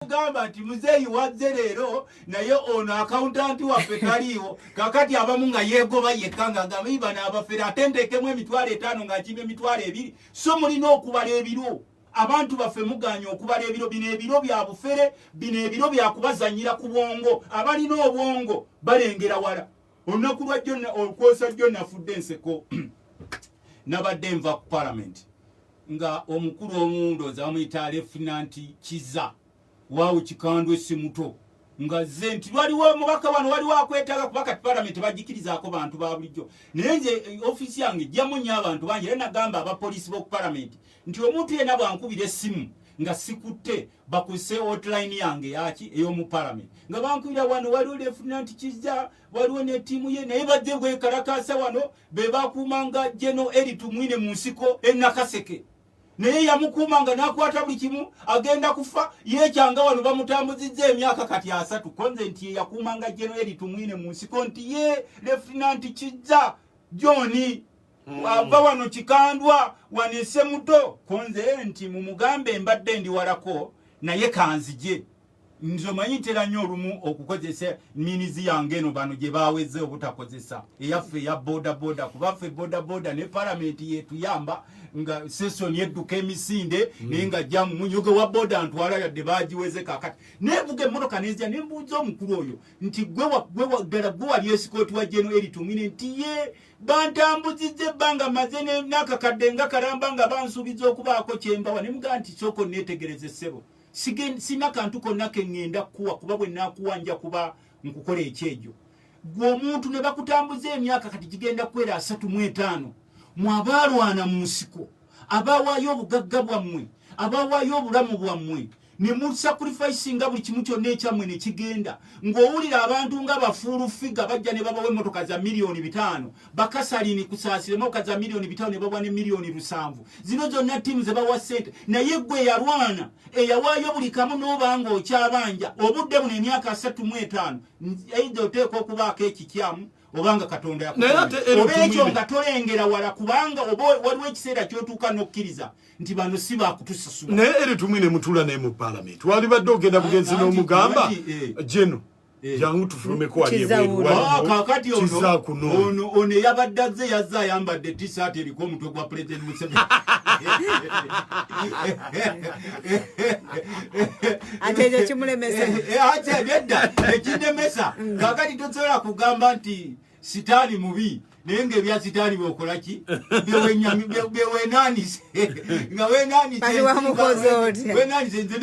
kugamba nti muzeeyi wazze leero naye ono akawuntanti waffe taliiwo kakati abamu nga yeegoba yekka nga agamba ibana abafere ate nteekemu emitwalo etaano nga nkima emitwalo ebiri so mulina okubala ebiro abantu baffe muganye okubala ebiro bino ebiro bya bufere bino ebiro byakubazanyira ku bwongo abalina obwongo balengera wala olunaku lwa jjo olukwosa jjo nafudde enseko nabadde nva ku palamenti nga omukulu omuwundo zamuyita lefinanti kiza waawo kikandwe simuto nga ze nti waliwo omubaka wano waliwo akwetaaga kuba kati palamenti bagikirizaako bantu ba bulijjo naye nze eh, ofiisi yange jjamu nnyo abantu bangi era nagamba abapoliisi b'oku palamenti nti omuntu yena bwankubira essimu nga sikutte bakuse hotline yange yaki eyomu parliament nga bankubira wano waliwo lefunanti kizza waliwo ne ttiimu ye naye bajje bwekalakaasa wano be bakuumanga geno eri tumwine mu nsiko enakaseke naye yamukuumanga nakwata buli kimu agenda kufa yekyanga wano bamutambuzizza emyaka kati asatu konze nti ye yakuumanga geno eri tumwine mu nsiko nti ye lefunanti kizza joni Hmm. ava wano kikandwa wanise muto kunze nti mumugambe mbadde ndi walako naye kanzije nze omanyi ntera nnyo olumu okukozesa minizi yange eno bano gye baweze obutakozesa eyaffe eya bodaboda kubaffe bodaboda ne palamenti yetuyamba nga sesoni edduka emisinde hmm. naye nga jamu munyoge wa boda ntwala yadde bagiweze kakati nevuga emotoka nezija nembuuza omukulu oyo nti gwe ddala gwe wali esikooti wa jeno eritumwine nti ye bantambuzizza ebbanga maze n'akakadde nga kalamba nga bansuubiza okubaako kyembawa ne mugaa nti sooka onneetegereze ssebo sina kantu konna ke ŋŋenda kukuwa kuba bwe naakuwa nja kuba nkukola ekyejo gwe omuntu ne bakutambuza emyaka kati gigenda kukwera asatu mu etaano mu abaalwana mu nsiko abawaayo obugagga bwammwe abawaayo obulamu bwammwe ne musacrifice nga buli kimu kyonna ekyamwe ne kigenda ng'owulira abantu nga bafuulu figa bajja ne babawa emmotoka za miliyoni bitaano bakasalini kusaasira emmotoka za miliyoni bitaano ne babawa ne miliyoni lusanvu zino zonna ttiimu ze bawa ssente naye gwe yalwana eyawaayo buli kamu n'oba ng'okyabanja obudde buno emyaka asatu mu etaano eitha oteekwa okubaako ekikyamu obanga katonda yakuoba ekyo nga tolengera wala kubanga oba waliwo ekiseera kyotuuka n'okkiriza nti bano si bakutusasula naye eri tumwe ne mutula naye mu palamenti walibadde ogenda bugenzi n'omugamba jeno eh. Eh. jangu tufulumeko kakati ono ono eyabadde azze yazze ayambadde tisaati eriko omutwe gwa pulezidenti museveni ate ekyo kimulemesa eh, eh, ate byedda ekindemesa mm. kakati tosobola kugamba nti sitaani mubi naye nga ebya sitaani byokola ki byewenanise nga wenanisewenanise nze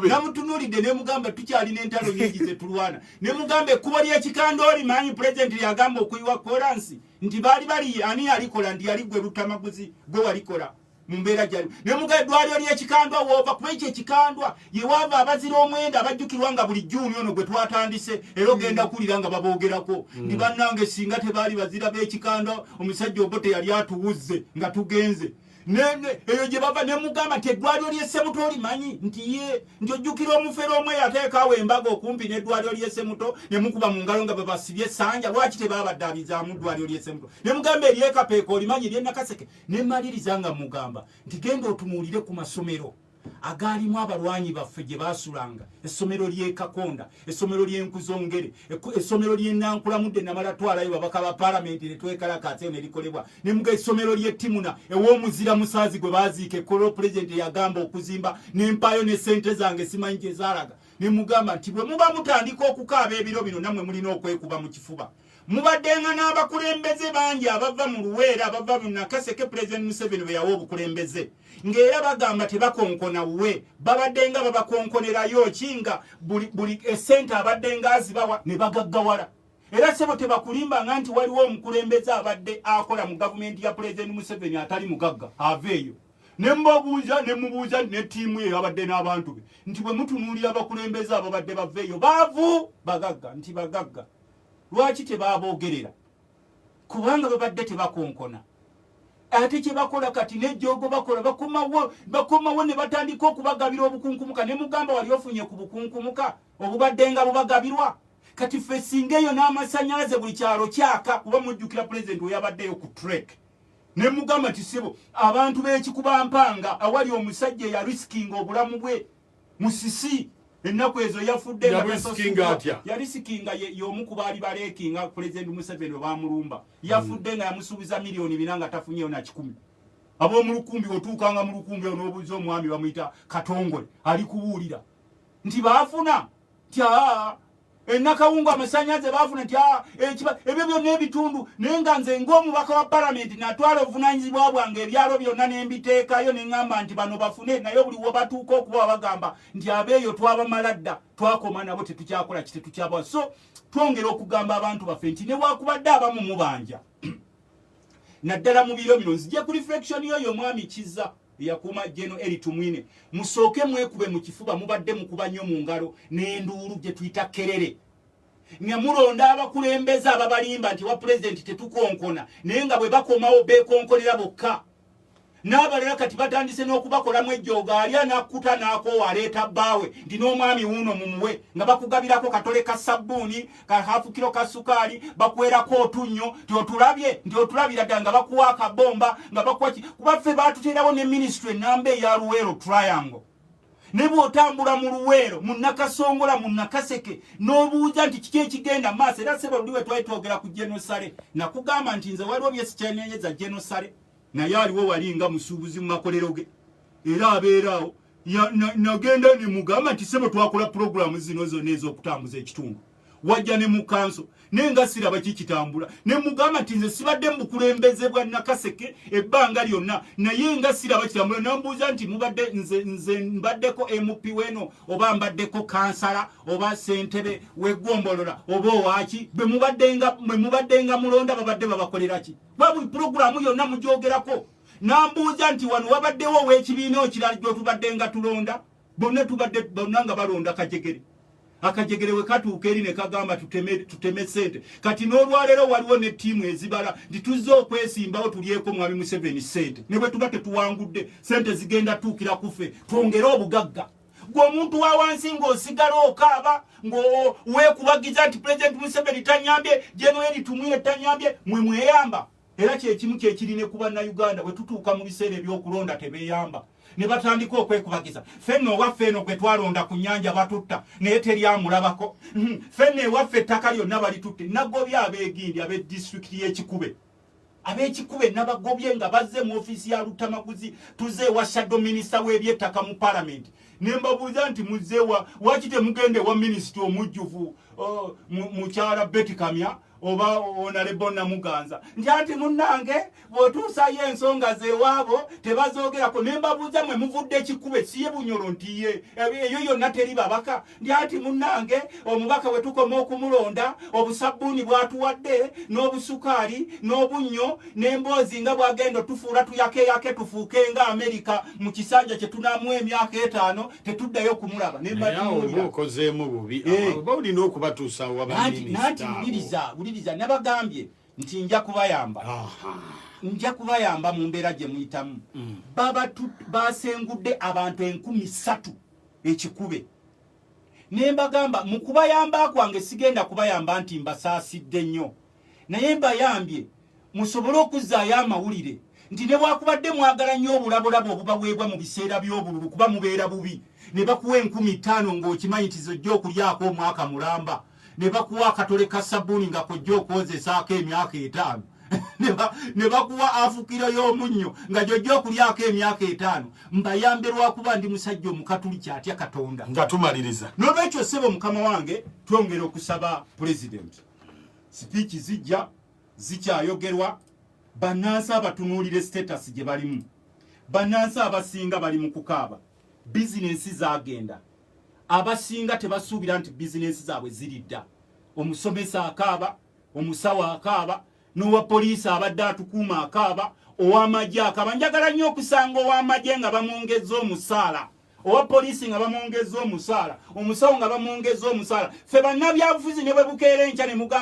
namutunulidde nemugamba tukyalina entalo nyingi zetulwana nemugamba ekkubo lyekikanda oli manyi pulezidenti lyagamba okuyiwa kolansi nti baali bali ani yalikola nti yali gwe lutamaguzi gwe walikola mu mbeera gyalimu ne muga eddwaliro ly'ekikandwa woova kuba ekyo ekikandwa ye waava abazira omwenda abajjukirwa nga buli juuni ono gwe twatandise era ogenda kuwulira nga baboogerako mm. ndi bannange singa tebaali bazira b'ekikandwa omusajja obo teyali atuwuzze nga tugenze eyo gye bava ne mugamba nti eddwaliro ly'essemuto olimanyi nti ye nti ojjukira omufere omu eyateekaawo embaga okumpi n'eddwaliro ly'essemuto ne mukuba mu ngalo nga babasibye essanja lwaki tebaabaddaabizaamu ddwaliro ly'essemuto ne mugamba eryekapeeka olimanyi ery'enakaseke ne maliriza nga mugamba nti genda otunuulire ku masomero agaalimu abalwanyi baffe gye baasulanga essomero ly'ekakonda essomero ly'enkuzongere essomero ly'enankulamudde namala twalayo babaka ba palamenti ne twekalakaatseyo ne likolebwa ne muga essomero ly'ettimuna ew'omuzira musaazi gwe baaziika ekkolero pulezidenti eyagamba okuzimba n'empaayo ne ssente zange simanyi gye zaalaga ne mugamba nti bwe muba mutandika okukaaba ebiro bino nammwe mulina okwekuba mu kifuba mubaddenga n'abakulembeze bangi abava mu luweera abava mu nakaseke pulezidenti museveni bwe yawa obukulembeze ng'era bagamba tebakonkona wuwe babaddenga babakonkonerayo ki nga buli esente abaddenga azibawa ne bagaggawala era sebo tebakulimbanga nti waliwo omukulembeze abadde akola mu gavumenti ya pulezidenti museveni atali mugagga aveeyo ne mbabuuza ne mubuuza ne ttiimu ye abadde n'abantu be nti bwe mutunuulira abakulembeze ababadde baveeyo baavu bagagga nti bagagga lwaki tebaboogerera kubanga babadde tebakonkona ate kyebakola kati nejogo bakola bakomawo bakomawo ne batandika okubagabira obukunkumuka ne mugamba wali ofunye ku bukunkumuka obubadde nga bubagabirwa kati ffe singa eyo n'amasanyalaze buli kyalo kyaka kuba mujjukira pulezidenti weyabaddeyo ku trek ne mugamba nti sibo abantu b'ekikuba mpanga awali omusajja eya risikinga obulamu bwe musisi ennaku ezo yafudde yali sikinga y'omu ku baali baleeki nga pulezidenti museveni we bamulumba yafudde nga yamusuubiza miliyoni bina nga tafunyeyo na kikumi ab'omu lukumbi otuukanga mu lukumbi onoobuuza omwami bamuyita katongole ali kubuulira nti baafuna nti aa enakawungu amasanyaze bafuna nti ah, ebyo byonna ebitundu naye nga nze ngaomubaka wa palamenti natwala obuvunanyizibwa bwange ebyalo byonna nembiteekayo neŋamba nti bano bafune naye buli webatuuka okuba bagamba nti abeeyo twabamala dda twakoma nabo tetukyakola ki tetukyabawa so twongera okugamba abantu baffe nti newakubadde abamu mubanja naddala mu biro bino nzije ku reflection yoyo omwami kiza eyakuuma Jeno Eli Tumwine, musooke mwekube mu kifuba, mubadde mukuba nnyo mu ngalo n'enduulu gye tuyita kerere nga mulonda abakulembeze ababalimba nti wa pulezidenti tetukonkona naye nga bwe bakomawo beekonkolera bokka n'abalala kati batandise n'okubakolamu ejjooga ali anakkuta n'akoowa aleeta bbaawe nti n'omwami wuuno mumuwe nga bakugabirako katole ka sabbuuni ka hafu kilo ka sukali bakwera ko tunyo ti otulabye ndi otulabira danga bakuwa ka bomba nga bakuwa ki kuba fe batu tena wone ministry nambe ya ruwero triangle nebo otambula mu ruwero mu nakasongola mu nakaseke nobuuza nti kiki ekigenda maso era sebo ndiwe twaitogera ku genocide na kugamba nti nze waliwo byesi kyenenyeza genocide naye aliwo walinga musubuzi mu makolero ge era abeerawo nagenda na, na nemugamba nti sebo twakola pulogulaamu zino zonna ez'okutambuza ekitundu wajja ne mu kanso naye nga siraba kikitambula ne mugamba nti nze sibadde mu bukulembeze bwa nakaseke ebbanga lyonna naye nga siraba kitambula nambuuza nti mubadde nze, nze mbaddeko mp weno oba mbaddeko kansala oba sentebe wegombolola oba owaki bwe mubaddenga mulonda babadde babakoleraki bwabuli pulogulaamu yonna mugyogerako nambuuza nti wano wabaddewo owekibiina okirala gyotubadde nga tulonda bonna tubadde bonna nga balonda kajegere akajegere wekatuuka eri nekagamba tuteme, tuteme sente kati n'olwaleero waliwo ne tiimu ezibala nti tuzze okwesimbawo tulyeko mwami museveni sente ne bwe tuba tetuwangudde sente zigenda tuukira kufe twongere obugagga gwe omuntu wa wansi ng'osigala okaaba ng'owekubagiza nti pulezidenti museveni tanyambye jenoeri tumwire tanyambye mwe mweyamba Era kyekimu kyekiri ne ku Bannayuganda bwe tutuuka mu biseera eby'okulonda tebeeyamba ne batandika okwekubagiza. Ffenno owaffe eno gwe twalonda ku nnyanja batutta naye teri amulabako. Hmm, ffenno ewaffe ettaka lyonna balitutte. Nagobye abeegindi ab'e disitulikiti y'e Kikube. Ab'ekikube nabagobye nga bazze mu ofiisi ya Luttamaguzi tuzze ewa shaddo minisita w'ebyettaka mu palamenti ne mbabuuza nti muzzeewa waaki temugenda ewa minisita omujjuvu oh, mukyala Betty Kamya oba onalebo namuganza nti anti munnange bwotuusayo ensonga zewaabo tebazoogerako ne mbabuuza mwe muvudde ekikube siye bunyolo nti ye eyo yonna teri babaka nti anti munnange omubaka bwe tukoma okumulonda obusabbuuni bwatuwadde n'obusukaali n'obunnyo n'emboozi nga bwagenda otufuula tuyakeyake tufuuke nga amerika mu kisanja kye tunamu emyaka etaano tetuddayo kumulaba nembaokozeemu bubi eh. oba olina okubatuusa wabananti wuliriza wuliriza nabagambye nti nja kubayamba nja kubayamba mu mbeera gye muyitamu mm. basengudde abantu enkumi ssatu ekikube nembagamba mu kubayamba kwange sigenda kubayamba nti mbasaasidde nnyo naye mbayambye musobole okuzzaayo amawulire nti newakubadde mwagala nnyo obulabolabo obubaweebwa mu biseera by'obululu kuba mubeera bubi ne bakuwa enkumi ttaano ng'okimanyi nti zojja okulyako omwaka mulamba ne bakuwa akatole ka sabbuuni nga kojja okwozesaako emyaka etaano ne bakuwa afukiro y'omunnyo nga gyojja okulyako emyaka etaano mbayambe lwakuba ndi musajja omukatuli kyatya katonda nga tumaliriza n'olwekyo ssebo mukama wange twongera okusaba pulezidenti sipiiki zijja zikyayogerwa bannansi abatunuulire status gye balimu bannansi abasinga bali mu kukaaba bizinensi zagenda abasinga tebasuubira nti bizinensi zaabwe ziridda omusomesa akaaba omusawo akaaba n'owa poliisi abadde atukuuma akaaba ow'amagye akaaba njagala nnyo okusanga ow'amagye nga bamwongezza omusaala owa poliisi nga bamwongezza omusaala omusawo nga bamwongezza omusaala ffe bannabyabufuzi ne bwe bukeera enkya ne mugamba